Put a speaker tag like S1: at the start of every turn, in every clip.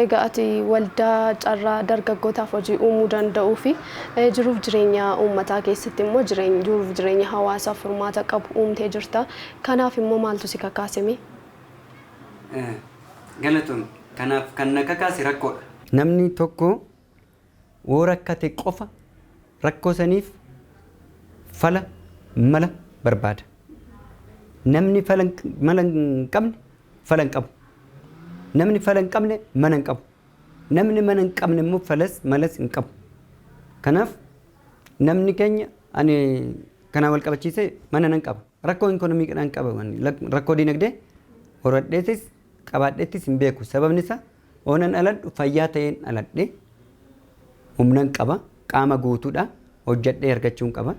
S1: Egaa ati waldaa carraa dargaggootaaf hojii uumuu danda'uu fi jiruuf jireenya uummataa keessatti immoo jiruuf jireenya hawaasaaf furmaata qabu uumtee jirta. Kanaaf immoo maaltu si kakaase mee?
S2: Galatoomi. Kanaaf kan na kakaase rakkoodha. Namni tokko. woo rakkate qofa rakkoo saniif fala, mala, barbaada. Namni fala, mala hin qabne fala hin qabu. Namni fala hin qabne mana hin qabu. Namni mana hin qabne immoo falas, malas hin qabu. Kanaaf namni keenya ani kanaan wal qabachiisee mana nan qaba. Rakkoo inkonomiikidhaan qaba waan rakkoo diinagdee horadheetis qabaadheettis hin beeku sababni isaa oonan dhaladhu fayyaa ta'een dhaladhe humnan qaba qaama guutuudha hojjadhee argachuun qaba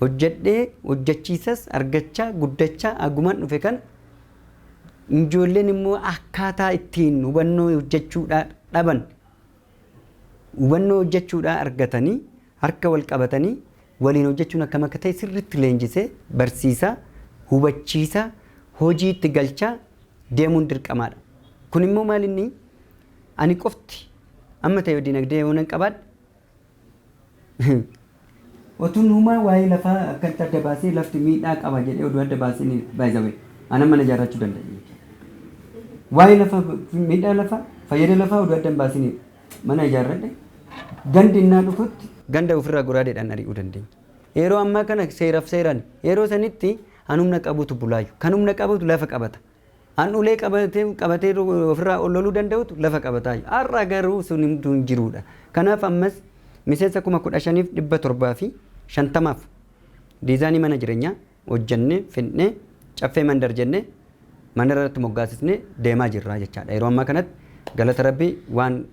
S2: hojjadhee hojjachiisas argachaa guddachaa agumaan dhufe kana ijoolleen immoo akkaataa ittiin hubannoo hojjachuudhaa dhaban hubannoo hojjechuudhaa argatanii harka wal qabatanii waliin hojjechuun akkam akka ta'e sirriitti leenjisee barsiisaa, hubachiisaa, hojiitti galchaa deemuun dirqamaadha. Kunimmoo maalinni ani qofti amma ta'e dinagdee yoonan qabaadhe, Otuun humaa waa'ee lafaa akkatti adda baasee lafti miidhaa qaba jedhee oduu adda baasee ni by the way anan mana ijaarrachuu danda'e jechuudha. Waa'ee lafa miidhaa lafaa fayyada lafaa oduu adda hin baasini mana ijaarradhe gandi innaa dhufutti ganda ofirraa goraadeedhaan ari'uu dandeenya. Yeroo ammaa kana seeraf seerani. Yeroo sanitti an humna qabutu bulaayyu. Kan humna qabutu lafa qabata. An ulee qabatee ofirraa ol loluu danda'utu lafa qabataayyu. Har'a garuu sun hunduu hin jiruudha. Kanaaf ammas miseensa 15,750f diizaanii mana jirenyaa hojjennee fidnee Caffee Mandar jennee mandara irratti moggaasisnee deemaa jirra jechaadha. Yeroo ammaa kanatti galata Rabbii waan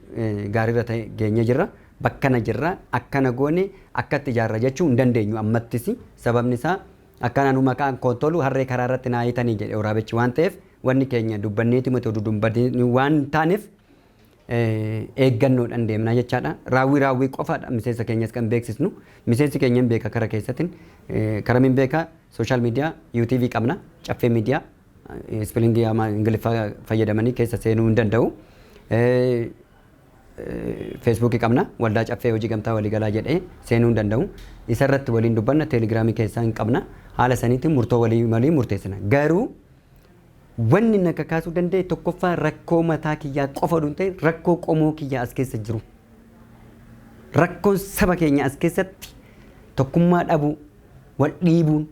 S2: gaariirra ta'e geenyee jirra. Bakkana jirra, akkana goone, akkatti ijaarra jechuu hin dandeenyu ammattis. Sababni isaa Akkaan anuu maqaan koo Tolu harree karaa irratti naa hiitanii jedhe woraabechi waan ta'eef wanni keenya dubbanneeti miti oduu dubbadanii waan hin taaneef eeggannoodhaan deemnaa jechaadha. Raawwii raawwii qofaadha miseensa keenyas kan beeksisnu. Miseensi keenya hin beeka kara keessatiin karamiin beeka sooshaal miidiyaa UTV qabna caffee miidiyaa ispilingii ama ingiliffaa fayyadamanii keessa seenuu hin danda'u. Facebook qabna waldaa caffee hojii gamtaa waliigalaa jedhee seenuu hin danda'u. Isa irratti waliin dubbanna teelegiraamii keessaa hin qabna. Haala saniitiin murtoo walii malii murteessina. Garuu wanni na kakaasuu danda'e tokkoffaa rakkoo mataa kiyyaa qofa oduu hin ta'in rakkoo qomoo kiyyaa as keessa jiru. Rakkoon saba keenya as keessatti tokkummaa dhabuu, wal dhiibuun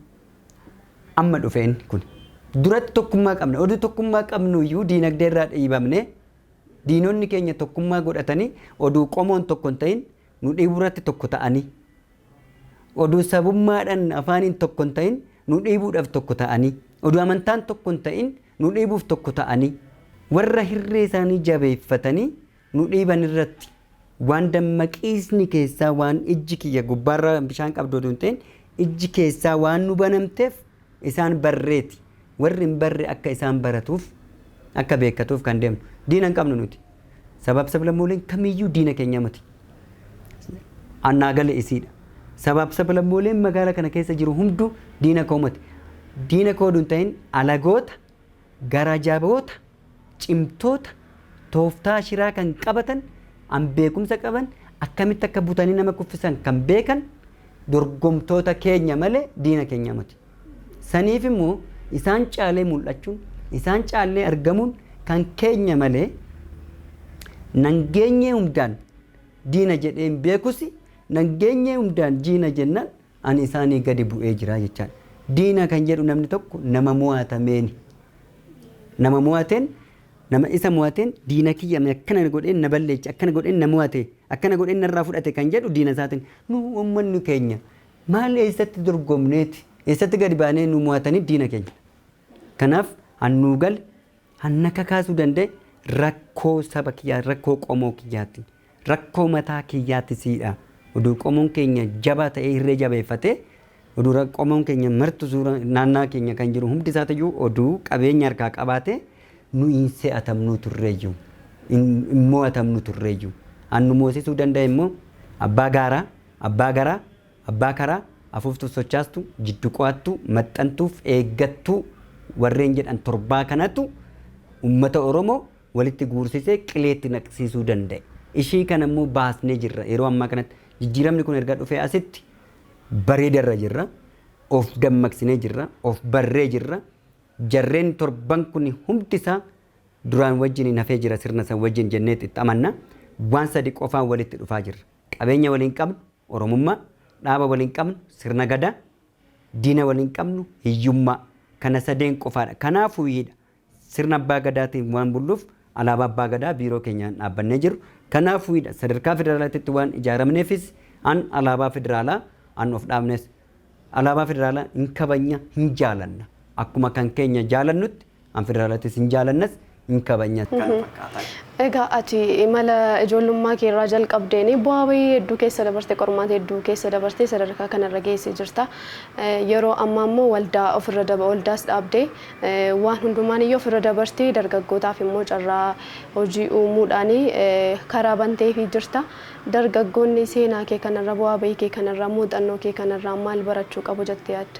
S2: amma dhufe inni kun. Duratti tokkummaa qabna. Oduu tokkummaa qabnu iyyuu diinagdee irraa dhiibamne Diinonni keenya tokkummaa godhatanii oduu qomoon tokko hin ta'in nu dhiibuurratti tokko ta'anii, oduu sabummaadhaan afaaniin tokko hin ta'in nu dhiibuudhaaf tokko ta'anii, oduu amantaan tokko hin ta'in nu dhiibuuf tokko ta'anii, warra hirree isaanii jabeeffatanii nu dhiiban irratti waan dammaqiisni keessaa waan ijji kiyya gubbaarra bishaan qabdu oduu hin ta'in ijji keessaa waan nu banamteef, isaan barreeti warri hin barre akka isaan baratuuf akka beekkatuuf kan deemnu diina hin qabnu nuti sabaaf sablammooleen kamiyyuu diina keenyaa miti annaa gale isiidha sabaaf sablammooleen magaala kana keessa jiru hunduu diina koo miti diina koo duun ta'in alagoota gara jaboota cimtoota, tooftaa shiraa kan qabatan, an beekumsa qaban, akkamitti akka butanii nama kuffisan kan beekan dorgomtoota keenya malee diina keenya miti. Saniif immoo isaan caalee mul'achuun, isaan caallee argamuun kan keenya malee nangeenyee hundaan diina jedhee hin beekusi, nangeenyee hundaan diina jennaan Ani isaanii gadi bu'ee jira jechaan. Diina kan jedhu namni tokko nama mo'atameeni. Nama mo'ateen, nama isa mo'ateen diina kiyya mee akkana na godheen na balleeche, akkana godheen na mo'ate, akkana godheen narraa fudhate kan jedhu diina isaatiin. Nu ummanni keenya maal eessatti dorgomneeti, eessatti gadi baanee nu mo'atanii diina keenya. Kanaaf an nuu gale, Kan na kakaasuu danda'e rakkoo saba kiyyaa, rakkoo qomoo kiyyaati. Rakkoo mataa kiyyaati siidha. Oduu qomoon keenya jabaa ta'ee hirree jabeeffatee, oduu ra- qomoon keenya martu suura naannaa keenya kan jiru hundi isaatiyyuu oduu qabeenya harkaa qabaatee nu hin se'atamnuu turreeyyu. Hin hin mo'atamnu turreeyyu. Kan nu moosisuu danda'e immoo abbaa gaaraa, abbaa garaa, Abbaa karaa, afuuftuu sochaastuu, jiddu qo'attuu, maxxantuuf eeggattuu warreen jedhan torbaa kanatu ummata Oromoo walitti guursisee qileetti naqsiisuu danda'e. Ishii kana immoo baasnee jirra. Yeroo ammaa kanatti jijjiiramni kun erga dhufee asitti bareeda irra jirra. Of dammaqsinee jirra. Of barree jirra. Jarreen torban kun humti isaa duraan wajjiniin hafee jira sirna san wajjin jenneet itti amanna. Waan sadi qofaan walitti dhufaa jirra. Qabeenya waliin qabnu, Oromummaa, dhaaba waliin qabnu, Sirna Gadaa, diina waliin qabnu, hiyyummaa. Kana sadeen qofaadha. Kanaafuu hidha Sirna Abbaa Gadaatiin waan bulluuf Alaabaa Abbaa Gadaa biiroo keenyaan dhaabbannee jirru. Kanaafuu hidha sadarkaa federaalaatitti waan ijaaramneefis an Alaabaa Federaalaa an of dhaabnes Alaabaa federaalaa hin kabajna, hin jaalanna. Akkuma kan keenya jaalannutti an federaalatis hin jaalannas, hin kabajnas. Kana fakkaatan.
S1: Egaa ati imala ijoollummaa kee irraa jalqabdeen bu'aa bahii hedduu keessa dabarte, qormaata hedduu keessa dabartee sadarkaa kanarra geessee jirta. Yeroo ammaa immoo waldaa ofirra daba waldaas dhaabdee waan hundumaan iyyuu ofirra dabartee dargaggootaaf immoo carraa hojii uumuudhaan karaa banteefii jirta. Dargaggoonni seenaa kee kanarra, bu'aa ba'ii kee kanarraa, muuxannoo kee kanarraa maal barachuu qabu jettee yaadda?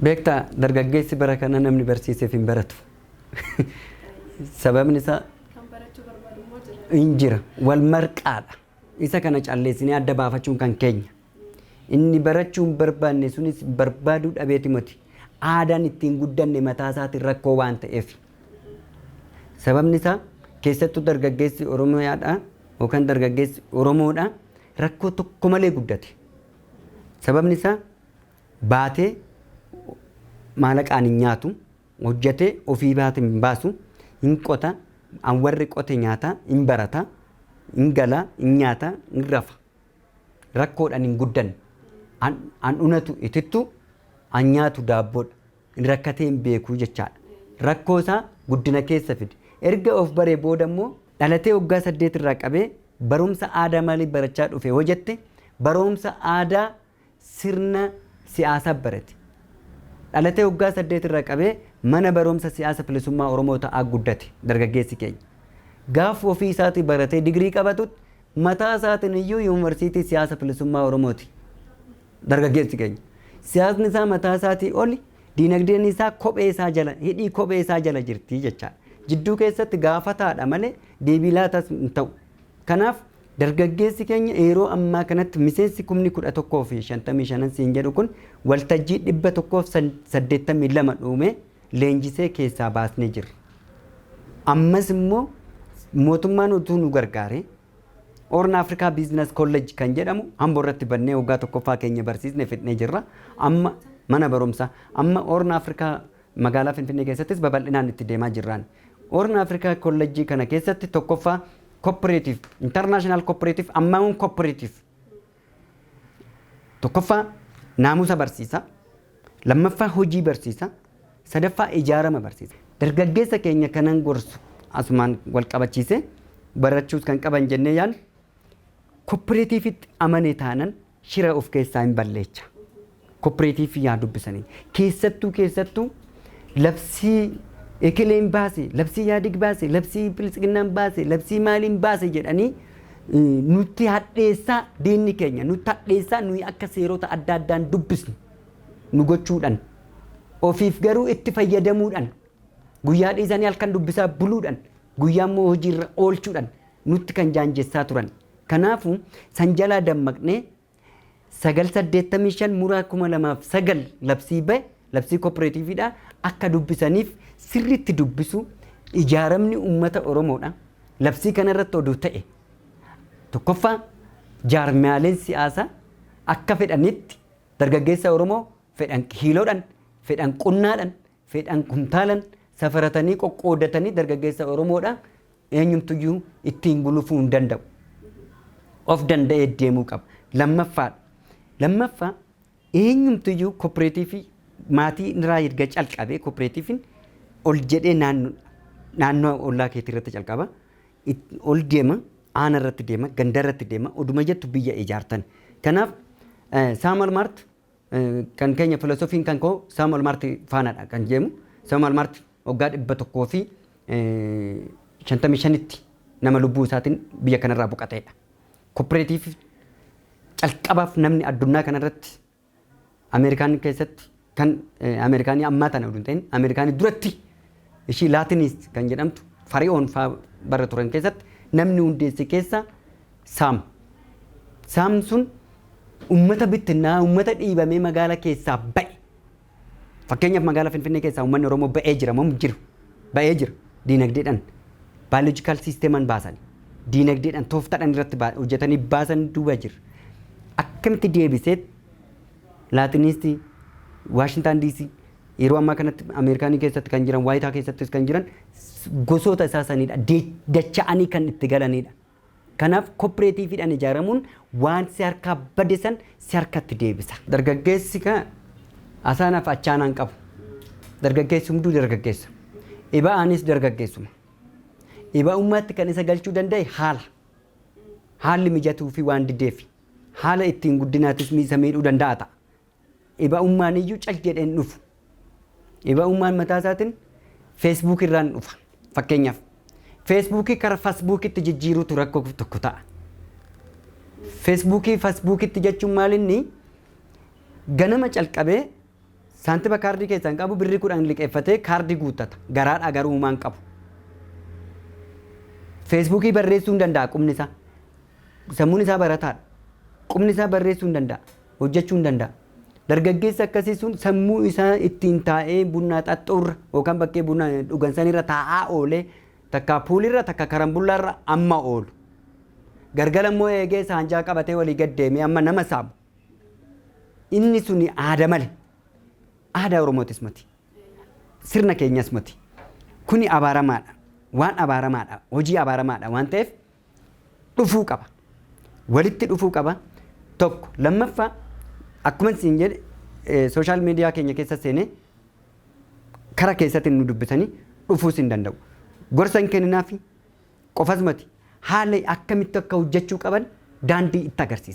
S1: Beektaa,
S2: dargaggeessi bara kanaa namni barsiiseef hin baratu. Sababni isaa. Kan barachuu barbaadu immoo jira. Hin jira. Wal marqaadha. Isa kana calleessinee adda baafachuun kan keenya. Inni barachuu hin barbaanne sunis barbaaduu dhabeeti moti. Aadaan ittiin guddanne mataa isaatiin rakkoo waan ta'eefi. Sababni isaa keessattuu dargaggeessi Oromiyaadhaa yookaan dargaggeessi Oromoodhaa rakkoo tokko malee guddate. Sababni isaa baatee maalaqaan hin nyaatu, hojjetee ofii baate hin baasu, hin qota, an warri qote nyaata, hin barata, hin gala, hin nyaata, hin rafa. Rakkoodhaan hin guddanne. An, an unatu itittu, an nyaatu daabboodha. Inni rakkatee hin beeku jechaadha. Rakkoo isaa guddina keessa fide. Erga of baree booda immoo dhalatee waggaa 8 irraa qabee barumsa aadaa maalii barachaa dhufe hoo jette baroomsa aadaa sirna siyaasaa barate. Dhalatee waggaa 8 irraa qabee mana baroomsa siyaasa filisummaa Oromoo ta'aa guddate dargaggeessi keenya. Gaaf ofii isaatii baratee digirii qabatutti mataa isaatiin iyyuu yuunivarsiitii siyaasa filisummaa Oromooti. Dargaggeessi keenya siyaasni isaa mataa isaatii oli, diinagdeen isaa kophee isaa jala, hidhii kophee isaa jala jirti jechaadha. Jidduu keessatti gaafataadha malee deebii laatas hin ta'u. Kanaaf dargaggeessi keenya yeroo ammaa kanatti miseensi kumni 11 fi 55n siin jedhu kun waltajjii 182 dhuumee leenjisee keessaa baasnee jirra. Ammas immoo mootummaan utuu nu gargaaree, Horn Africa Business College kan jedhamu Ambo irratti bannee waggaa tokkoffaa keenya barsiisne fidnee jirra. Amma mana barumsa amma Horn Africa magaalaa Finfinnee keessattis babal'inaan itti deemaa jirraan. Horn Africa College kana keessatti tokkoffaa cooperative, international cooperative, ammaun cooperative Tokkoffaa naamusa barsiisaa, lammaffaa hojii barsiisaa, sadaffaa ijaarama barsiisaa. Dargaggeessa keenya kanan gorsu asumaan walqabachiisee barachuus kan qaban jennee yaadnu, koppireetiivitti amane taanan shira of keessaa hin balleecha. Koppireetiivii yaa dubbisanii. Keessattuu keessattuu labsii ekeleen baase, labsii yaadig baase, labsii biltsiginnaan baase, labsii maaliin baase jedhanii nutti hadheessaa diinni keenya nutti hadheessaa nuyi akka seerota adda addaan dubbisnu nu gochuudhaan ofiif garuu itti fayyadamuudhaan guyyaa dhiisanii halkan dubbisaa buluudhaan guyyaa immoo hojiirra oolchuudhaan nutti kan jaanjessaa turan. Kanaafuu san jalaa dammaqnee 9 85 muraa 2009 labsii ba'e labsii kooppereetiiviidha akka dubbisaniif sirriitti dubbisu ijaaramni uummata Oromoodha. Labsii kanarratti oduu ta'e tokkoffaa jaarmiyaaleen siyaasaa akka fedhanitti dargaggeessa Oromoo fedhan kiiloodhan fedhan qunnaadhan fedhan kuntaalan safaratanii qoqqoodatanii dargaggeessa Oromoodha eenyumtuyyuu ittiin gulufuu hin danda'u. Of danda'ee deemuu qaba. Lammaffaadha. Lammaffaa eenyumtuyyuu kooppereetiivii maatii irraa erga calqabee kooppereetiiviin ol jedhee naannoo naannoo ollaa keetii irratti calqaba. It- Ol deema, aana irratti deema, ganda irratti deema, oduma jettu biyya ijaartan. Kanaaf eh, Saamal Maart Kan keenya filosofiin kan koo Samuel Mart faanadha kan jeemu. Samuel Mart waggaa 155tti nama lubbuu isaatiin biyya kanarraa boqateedha. Kooppereetiif calqabaaf namni addunyaa kanarratti Ameerikaan keessatti kan Ameerikaanii ammaa tana hin ta'in Ameerikaanii duratti Ishii Laatiniis kan jedhamtu Fari'oon faa bara turan keessatti namni hundeesse keessaa Saam. Saam sun ummata bittinnaa'aa, ummata dhiibamee magaala keessaa ba'e. Fakkeenyaaf magaala Finfinnee keessaa ummanni Oromoo ba'ee jira moo hin jiru? Ba'ee jira. Diinagdeedhaan biological systeman baasani. Diinagdeedhaan tooftadhaan irratti baa- hojjetanii baasan duuba jira. Akkamitti deebiseet Laatiniistii Waashintaan DC Yeroo ammaa kanatti Ameerikaanii keessatti kan jiran, Waayitaa keessattis kan jiran gosoota isaa sanidha. Dacha'anii kan itti galanidha. Kanaaf kooppireetiiviidhaan ijaaramuun waan si harkaa bade san si harkatti deebisa. Dargaggeessi ka asaanaaf achaanaan qabu. Dargaggeessi hunduu dargaggeessa. Iba'aanis dargaggeessuma. Iba'ummaatti kan isa galchuu danda'e haala. Haalli mijatuu fi waan dideefi. Haala ittiin guddinaatis isa miidhuu danda'a ta'a. Dhiba'ummaan iyyuu cal jedhee hin dhufu. Dhiba'ummaan mataa isaatiin feesbuukii irraan dhufa. Fakkeenyaaf feesbuukii kara fasbuukitti jijjiiruutu rakkoo tokko ta'a. Feesbuukii fasbuukitti jechuun maal inni ganama calqabee saantiba kaardii keessaa hin qabu birrii kudhan liqeeffatee kaardii guuttata. Garaadhaa garuu uumaan qabu. Feesbuukii barreessuu hin danda'a qubni isaa. Sammuun isaa barataadha. Qubni isaa barreessuu hin danda'a. hojjechuu hin danda'a. Dargaggeessi akkasii sun sammuu isaa ittiin taa'ee bunnaa xaxxuurra yookaan bakkee buna dhugan sanirra taa'aa oolee takka puulirra takka karambullaarra amma oolu. Gargala immoo eegee saanjaa qabatee walii gad deemee amma nama saamu. Inni suni aada male. Aadaa Oromootis mati. Sirna keenyas mati. Kuni abaaramaadha. Waan abaaramaadha. Hojii abaaramaadha waan ta'eef dhufuu qaba. Walitti dhufuu qaba. Tokko. Lammaffaa akkuman siin jedhe eh, sooshaal miidiyaa keenya keessa seenee kara keessatti nu dubbisanii dhufuus hin danda'u. Gorsa hin kenninaafi qofas mati haala akkamitti akka hojjechuu qaban daandii itti agarsiisa.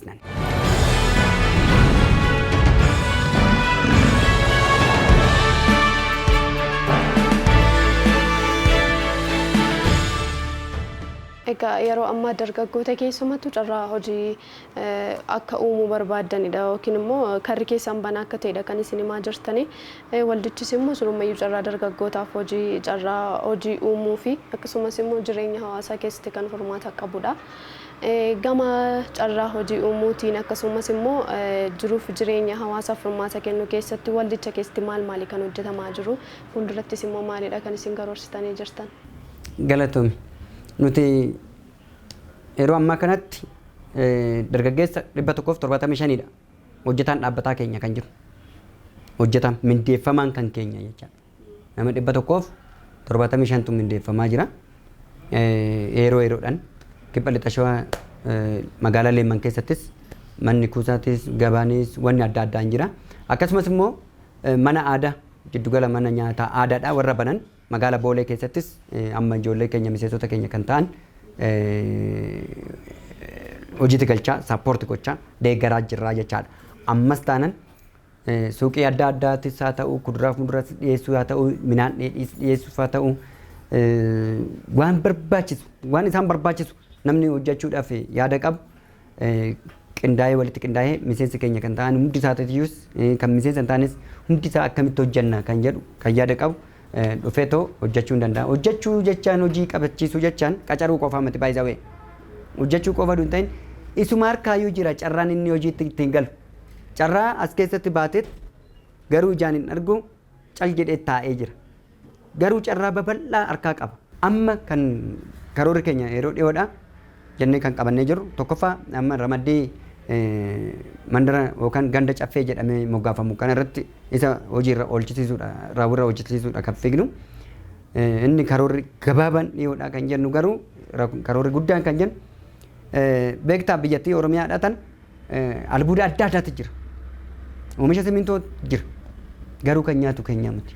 S1: Egaa yeroo ammaa dargaggoota keessumattuu carraa hojii akka uumuu barbaaddanidha yookiin immoo karri keessan banaa akka ta'edha kan isin himaa jirtanii. Waldichis immoo surummayyuu carraa dargaggootaaf hojii carraa hojii uumuu fi akkasumas immoo jireenya hawaasaa keessatti kan furmaata qabudha. Gama carraa hojii uumuutiin akkasumas immoo jiruuf jireenya hawaasaaf furmaata kennuu keessatti waldicha keessatti maal maali kan hojjetamaa jiru? Fuuldurattis immoo maalidha kan isin karoorsitanii jirtan? Galatoomi.
S2: Nuti yeroo ammaa kanatti dargaggeessa 175dha hojjetaan dhaabbataa keenya kan jiru. Hojjetaan mindeeffamaan kan keenya jechaadha. Nama 175tu mindeeffamaa jira. Yeroo yeroodhaan Kibba Lixa Shawaa magaalaa Leemman keessattis manni kuusaatis, gabaanis, wanni adda addaa hin jira. Akkasumas immoo mana aadaa jiddugala mana nyaataa aadaadhaa warra banan magaala Boolee keessattis amma ijoollee keenya miseensota keenya kan ta'an hojiitti galchaa, support gochaa, deeggaraa jirraa jechaadha. Ammas taanan Suuqii adda addaatis haa ta'u, kuduraa fi muduraas dhiyeessuu haa ta'u, midhaan dheedhiis dhiyeessuuf haa ta'u, waan barbaachisu, waan isaan barbaachisu namni hojjechuudhaaf yaada qabu qindaa'ee walitti qindaa'ee miseensa keenya kan ta'an hundi isaatiyyuus kan miseensa hin taanes hundi isaa akkamitti hojjenna kan jedhu kan yaada qabu dhufee too hojjechuu hin danda'a. Hojjechuu jechaan hojii qabachiisuu jechaan qacaruu qofaa miti baay'isawee. Hojjechuu qofa hin ta'in isuma harkaayyuu jira carraan inni hojiitti ittiin galu. Carraa as keessatti baateet garuu ijaan hin argu cal jedheet taa'ee jira. Garuu carraa babal'aa harkaa qaba. Amma kan karoorri keenya yeroo dhiyoodha jennee kan qabannee jirru tokkoffaa amma ramaddii mandara yookaan ganda caffee jedhamee moggaafamu kana irratti isa hojiirra oolchisiisuudha raawwirra hojjechiisuudha kan fiignu. Inni karoorri gabaabaan dhiyoodha kan jennu garuu karoorri guddaan kan jennu beektaa biyyattii Oromiyaadha tan Albuuda adda addaatu jira. Oomisha simintoo jira. Garuu kan nyaatu keenya miti.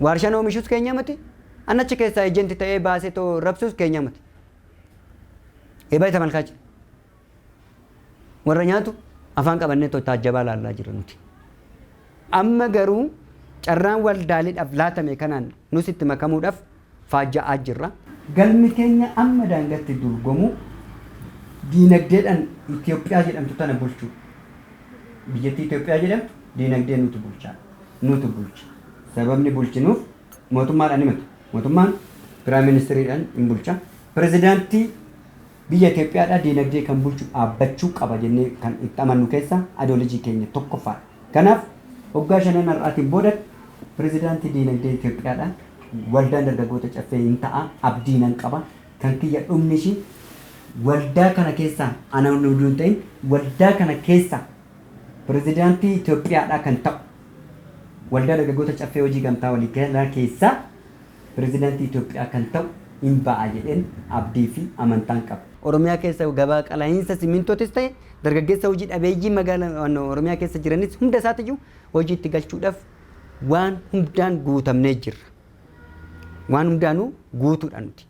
S2: Waarshaan oomishus keenya miti. Annachi keessaa ejenti ta'ee baasee too rabsus keenya miti. Eebaa isa malkaachi. Warra nyaatu afaan qabannee too taajjabaa laallaa jira nuti. Amma garuu carraan waldaaleedhaaf laatame kanaan nus itti makamuudhaaf faajja'aa jirra. Galmi keenya amma daangatti duulgomuu diinagdeedhan Itiyoophiyaa jedhamtu tana bulchuu. Biyyattii Itiyoophiyaa jedhamtu diinagdeen nutu bulchaa, nutu bulcha. Sababni bulchinuuf mootummaadha ni miti. Mootummaan Piraayim Ministiriidhan in bulcha. Pirezidaantii. Biyya Itoophiyaadhaa diinagdee kan bulchu dhaabbachuu qaba jennee kan itti amannu keessaa Adoolojii keenya tokkoffaadha. Kanaaf waggaa shanan har'aatiin booda Pirezidaantii Diinagdee Itoophiyaadha. Waldaan Dargaggoota Caffee hin ta'a abdii nan qaba. Kan kiyya dhumni ishii waldaa kana keessaa ana inni utuu hin ta'in waldaa kana keessaa Pirezidaantii Itoophiyaadhaa kan ta'u Waldaa Dargaggoota Caffee Hojii Gamtaa Waliigalaa keessaa Pirezidaantii Itoophiyaa kan ta'u in ba'a jedheen abdii fi amantaan qaba. Oromiyaa keessa gabaa qala'iinsa Simmintootis ta'e dargaggeessa hojii dhabeeyyii magaalaa Oromiyaa keessa jiranis hunda isaatiyyuu hojiitti galchuudhaaf waan hundaan guutamnee jirra. Waan hundaanuu guutuudha nuti.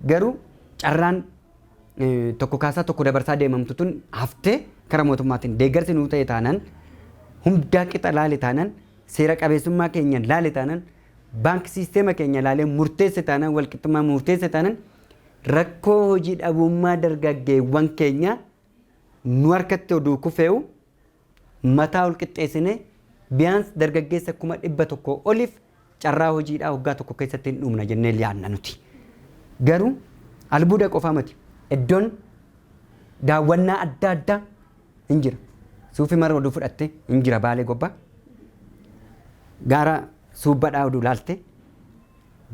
S2: Garuu carraan tokko kaasaa tokko dabarsaa deemamtu tun haftee kara mootummaatiin deeggarsi nuu ta'e taanaan hundaa qixa laale taanaan seera qabeessummaa keenyaan laale taanaan Bank sisteema keenya ilaalee murteesse taanaan walqixxummaa muurteesse taanan rakkoo hojii dhabuummaa dargaggeewwan keenyaa nu harkatti oduu kufeewu mataa ol qixxeessinee biyaans dargaggeessa kuma dhibba tokko oliif carraa hojiidhaa hoggaa tokko keessatti hin dhumna jennee yaadna nuti. Garuu albuuda qofaa mati. Iddoon daawwannaa adda addaa hin jira suufi mara oduu fudhatte hin jira baalee gobba gaara suubbadhaa oduu laalte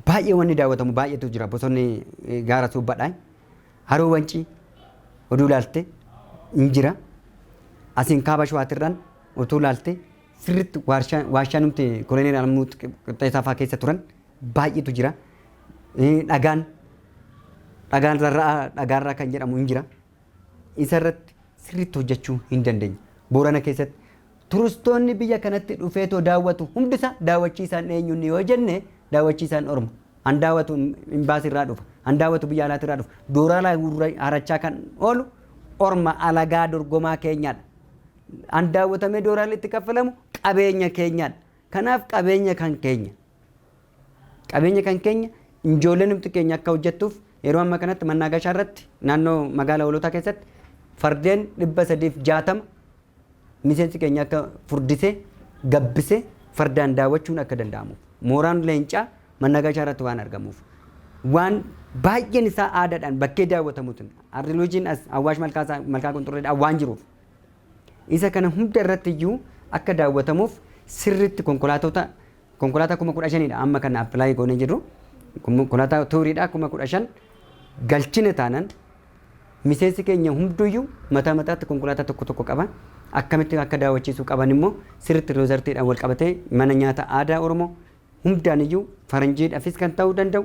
S2: baay'ee wanni daawwatamu baay'eetu jira bosonni eh, gaara suubbadhaa haroo wancii oduu laalte hin jira asiin kaaba shawaatirraan utuu laalte sirritti waarshaa waashaa numti koloneel alamuu qixxeessaa fa'aa keessa turan baay'eetu jira Eh, dhagaan dhagaan rarra'aa dhagaarraa kan jedhamu hin jira isa irratti sirriitti hojjechuu hin dandeenye. Boorana keessatti turistoonni biyya kanatti dhufeetoo daawwatu hundisaa daawwachiisaan eenyunni yoo jenne daawwachiisaan orma. An daawwatu imbaasii irraa dhufa. An daawwatu biyya alaati irraa dhufa. Dooraalaa gurra- harachaa kan oolu orma alagaa dorgomaa keenyaadha. An daawwatamee dooraalli itti kaffalamu qabeenya keenyaadha. Kanaaf qabeenya kan keenya. Qabeenya kan keenya ijoolleen humti keenya akka hojjettuuf yeroo amma kanatti Mannaagashaa irratti naannoo magaala Hoolotaa keessatti fardeen 360 miseensi keenya akka furdisee gabbisee fardaan daawwachuun akka danda'amuuf mooraan leencaa Mannaagashaa irratti waan argamuuf waan baay'een isaa aadaadhaan bakkee daawwatamuutiin Ardiluujiin as Awwaash Malkaasaa Malkaa Qunxurreedhaan waan jiruuf isa kana hunda irratti iyyuu akka daawwatamuuf sirriitti konkolaatota Konkolaataa kuma kudha shaniidha amma kan apply goonee jirru. Konkolaataa tuuriidha kuma kudha shan galchine taanan miseensi keenya hunduyyuu mataa mataatti konkolaataa tokko tokko qaba. Akkamitti akka daawwachiisuu qaban immoo sirriitti riizartiidhaan wal qabatee mana nyaata aadaa Oromoo hundaan iyyuu faranjiidhaafis kan ta'uu danda'u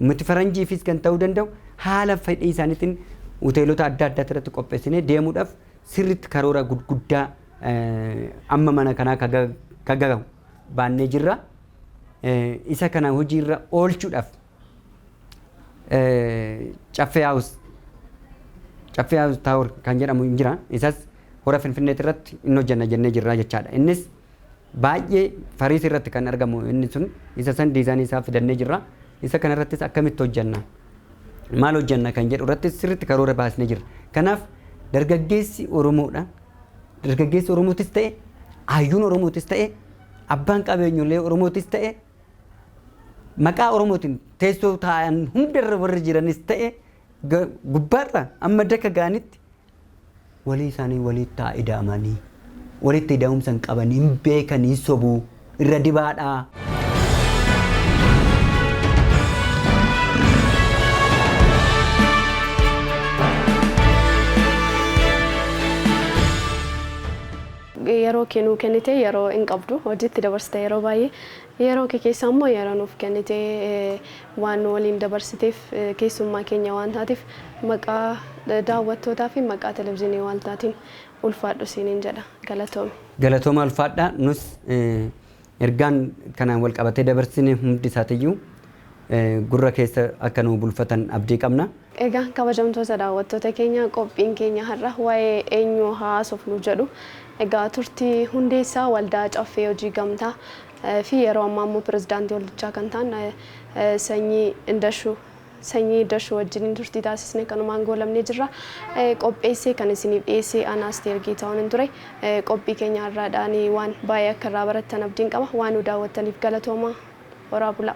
S2: miti faranjiifis kan ta'uu danda'u haala fedhii isaaniitiin hoteelota adda addaatti irratti qopheessinee deemuudhaaf sirriitti karoora guddaa Amma mana kanaa ka gagahu baannee jirra. Isa kana hojiirra oolchuudhaaf Caffee Haawus Caffee Haawus Taawur kan jedhamu hin jira. Isas hora Finfinneeti irratti hin hojjenna jennee jirra jechaadha. Innis baay'ee fariisii irratti kan argamu inni sun isa san diizaanii isaa fidannee jirra. Isa kana irrattis akkamitti hojjenna maal hojjenna kan jedhu irratti sirriitti karoora baasnee jirra. Kanaaf dargaggeessi Oromoodha. Dargaggeessi Oromootis ta'e, Hayyuun Oromootis ta'e, Abbaan Qabeenyollee Oromootis ta'e, Maqaa Oromootiin teessoo taa'an hundarra warri jiranis ta'e gubbaarra amma daka ga'anitti walii isaanii waliittaa ida'amanii walitti ida'umsa hin qabanii hin beekanii sobuu. irra dibaadhaa.
S1: yeroo kee nuu kennite yeroo hin qabdu hojiitti dabarsita yeroo baay'ee yeroo kee keessa immoo yeroo nuuf kennite eh, waan nu waliin dabarsiteef eh, keessummaa keenya waan taateef maqaa eh, daawwattootaa fi maqaa televizyiinii waaltaatiin ulfaadhu siinin jedha galatoomi. Galatoomaa ulfaadhaa
S2: nus ergaan kanaan wal qabatee dabarsine hundi isaatiyyuu gurra keessa akka nuu bulfatan abdii qabna. Egaa kabajamtoota
S1: daawwattoota keenya qophiin keenya har'a waa'ee eenyuu haa haasofnu jedhu egaa turtii hundeessaa waldaa caffee hojii gamtaa fi yeroo ammaa immoo pirezidaantii waldichaa kan ta'an Sanyii Indashuu Sanyii Dashu wajjiniin turtii taasisne kanumaan goolabnee jirra. Qopheessee kan isiniif dhiyeesse ana Asteer Geetaahuunin ture. Qophii keenya har'aadhaan waan baay'ee akka irraa barattan abdiin qaba. Waan nu daawwattaniif galatoomaa. Horaa bulaa.